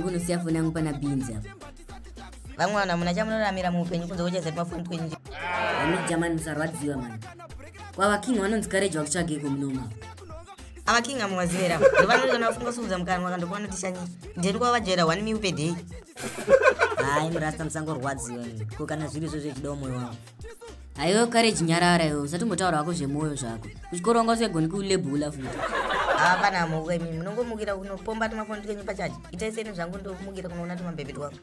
ndisiya foni yangu pana binzi apa vamwe vanhu hamuna chamunoramira muupenyu kunze kwechazati mafoni twenyu amijamani musarwadziwa mani kwava king vanonzi kareji vakutsvageko munoma ava king amuvazivera ndovanoti kana vafunga kusungudza mukanwa ka ndokuva notishanya ndeni kwava vajaira one miu pedei hai murasta musangorwadziwa ko kana zviri izvo zvechidawo mwoyo wavo haiwe kareji nyarara iwe usatombotaura wako zvemwoyo zvako kuchikoro wanga usingagoni kulebula futi hapana hamauka imi munongomukira kunopomba tumafoni twenyu pachaji itai seni zvangu ndokumukira kunoona tumabhebhi twangu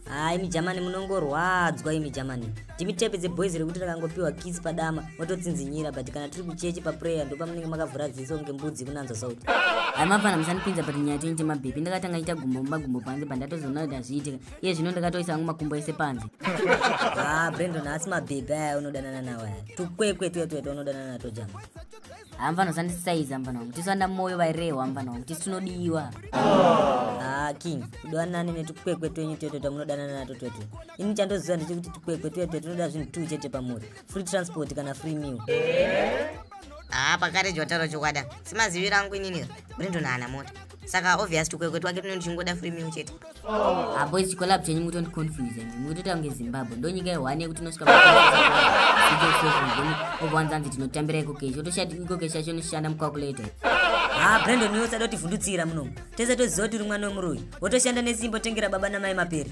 haa imi jamani munongorwadzwa imi jamani timi tepe dzeboys rekuti rakangopiwa kisi padama mototsinzinyira but kana tiri kucheche paprayer ndopamunenge makavhura dziso kunge mbudzi kunanzwa sauti hai mafana musanipinza but nyaya tenyu temabhepi ndakatanga ita gumbo mumagumbo panze but ndatozoona kuti hazviitika iye zvino ndakatoisa hangu makumbo ese panze haa ah, brendon haasi mabhepi aya unodanana nawo aya tukwekwe tuya tuya twaunodanana nato jama hamfana usandisaiza mfana wangu tisu vana moyo vairehwa mfana wangu tisu tinodiwa ah, king kudanane netukwekwe twenyu twetwe twamunodanana nato twetwe ini chandoziva ndechekuti tukwekwe twetwe tunoda zvinhu tuu chete pamuri free transport kana free meal haa ah, pakare jotaura chokwada simaziviro angu inini brindon haana mota saka obvious tukwekwe twake tunenge tuchingoda free meal chete apo ichi collab chenyu mutondi confuse imi mukutoita kunge zimbabwe ndo nyika yehwani yekuti unosvika owanzanzi tinotambira ikoke chotoshati ikoke chacho noshanda mucalculator ha brandon iwe usada kutivhundutsira munomu tese toziva kuti uri mwana wemuroyi wotoshanda nesimba otengera baba namai mapere